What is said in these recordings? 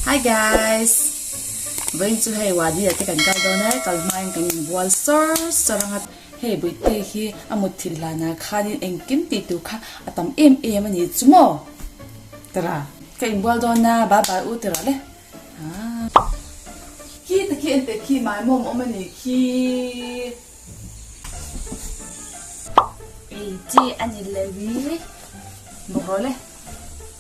Hi guys! Vawiin chu hei Wadi ah te kan kal dawn a, kal hmain kan in bual sawr sawr ang a. Hei Buihtei hi a mut thil hlanah khanin engkim tih tur kha a tam em em a ni chu maw? Tara! Ka in bual dawn a, bye bye u tara le. Aah! Khi ta khi en teh khi mah mawm awm a ni khi. Ei chi a ni lo i, bawk rawh le.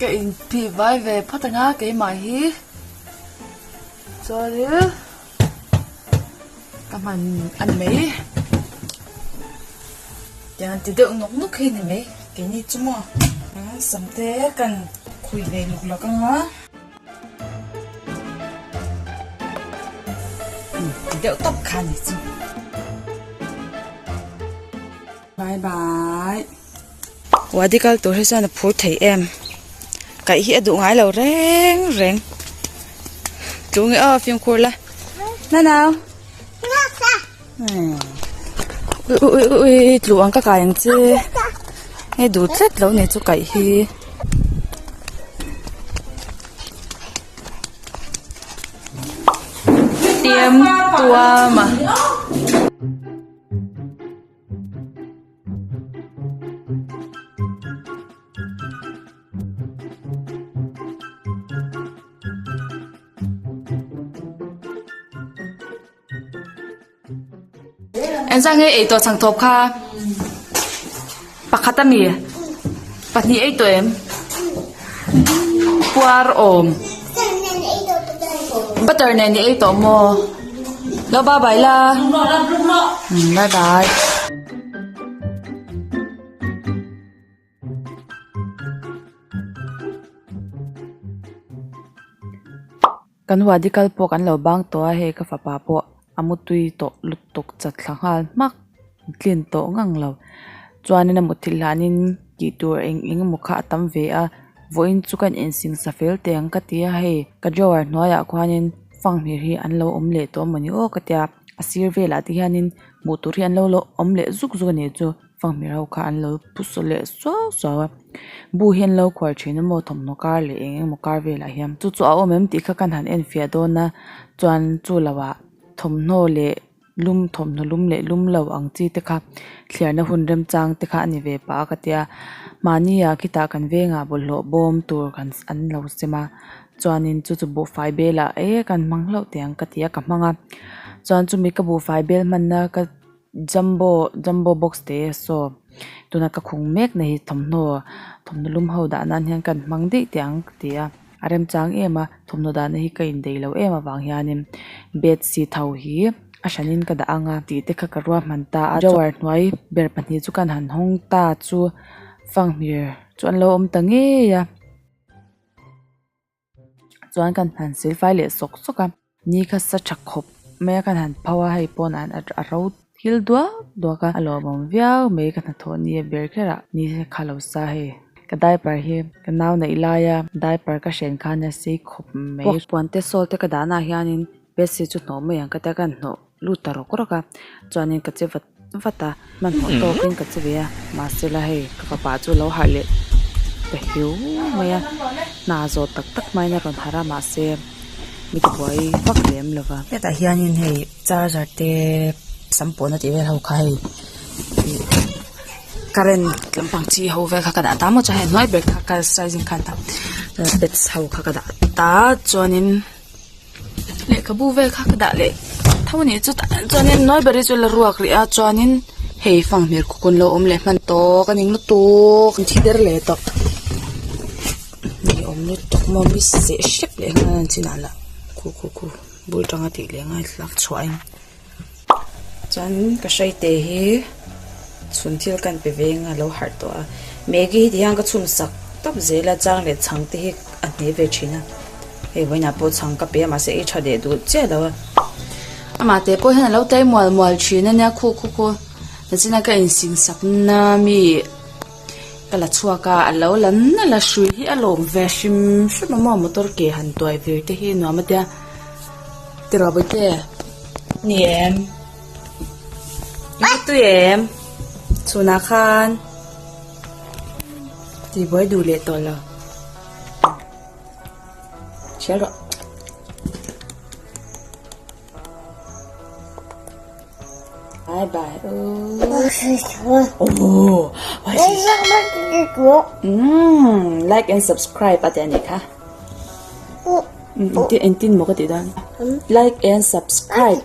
ka in phih vai ve phat anga keimah hi chuanin ka hman a ni mai tiang ti deuh nawk nawk hi a ni mai keini chu maw sam te kan khui ve luk lak anga ti deuh tak kha a ni chu bye bye Wadi kal tur hi chuan a phur thei em kaih hi a duh ngai lo reng reng tlu nge aw fimkhur la nanau ui ui ui tlu ang ka kai ang che hei duh tlat lo nei chu kaih hi tiam tuama. Engzang nge eitur chhang thawp kha pakhat a mi pahnih eitur em. Puar awm. Butter nen ni ei tawh maw. Lo ba bai la. Bye bye. Kan Huadi kal pawh kan lo bang tawh a, hei ka fapa pawh a mutui tawh lutuk chat thla nghal hmak, a tlin tawh ngang lo. Chuanin a mutthilh hanin tih tur eng eng emaw kha a tam ve a, vawiin chu kan insingsa fel teh ang ka ti a, hei ka drawer hnuaiah khuanin fanghmir hi an lo awm leh tawh a mawni aw ka tia, a sir velah te hianin hmuh tur hi an lo awm leh zuk zuk a nih chu. Fangmi ro kha an lo pu saw leh suau suau a bu hian lo khuar thin a maw thawmhnaw kar leh eng eng maw kar velah hian chu chu a awm em tih kha khan han en fiah dawn a chuan chu lo ah thawmhnaw leh lum thawmhnaw lum leh lum lo ang chi te kha thliarna hun remchang te kha a ni ve pah a ka tia mahni ah khitah kan veng ah bawlhhlawh bawm tur kan an lo sem a chuan in chu chu buhfai belah e kan hmang hlauh te ang ka ti a ka hmang a chuan chu mi ka buhfai bel hmanna ka-- Jumbo jumbo box te saw tuna ka khung mek na hi thawmhnaw thawmhnaw lum ho dah nan hian ka han hmang daih teh ang ka ti a a remchang em a thawmhnaw dah na hi ka indei lo em avang hian in bedsheet ho hi a hran in ka dah ang a tih te kha ka ruahman ta a drawer hnuai ber pahnih chu kan han hawng ta chu fanghmir chu an lo awm ta ngei a. chuan kan han silfai leh sawk sawk a ni kha sa tha khawp mai a kan han pho a hei pawn ah hian a ro thil duak duak a a lawmawm viau mai ka hnathawh nia ber kher ah ni kha lo sa hei ka diaper hi ka nau neih lai a diaper ka hrên khan a sei khawp mai a puan te salt te ka dah naah hian in bed sheet chu hnawh mai ang ka ti a kan hnawh-- lut ta rawk rawk a chuan in ka che vat vat a hmanhmawh tawk in ka che ve a mahse la hei ka fapa chu a lo harh leh ta hiu mai a hna zawt tak tak hma in a rawn harh a mahse mi te buai vak lem lo va hetah hian in hei charger te sam pawh na tih vel ho kha hei current lampang chi ho vel kha ka dah ta maw chuan hei hnuai ber kha ka size in khan ta pet ho kha ka dah ta chuan in-- lehkhabu vel kha ka dah leh tho a nih chu tah hian chuanin nawlbari chu la ruak leh a chuanin hei fanghmel khawn lo awm leh hman tawk a ni ngla tawk ni thi ber leh tawh ni awm ni tawk maw miss seh hrep leh nghal a ni chin ah lah khu khu khu bul tang a tih leh nghal tlak chhuah a ni. Chuan ka hreite hi chhun thil kan pe ve anga lo harh tawh a, Maggie hi ti hian ka chhum sak tawp zel a, chang leh chhang te hi a hne ve thin a, hei vawiin ah pawh chhang ka pe a mahse i tha leh duh chiah lo a, amah te pawh hian a lo tlai mual mual thin a nia khu khu khu, Hachina ka in sin sak na mi. Ka la chhuak a, a lo la nalh a, hrui hi a lawm ve a hrim hrim a maw motor ke han tuai vir te hi nuam atia Tirabuite ni em Latui em chhun ah khan ti buai duh leh tawh lo hriat rawh. Bye bye u. Like and subscribe ati ani kha. Inti inti mo ka ti dan. Like and subscribe.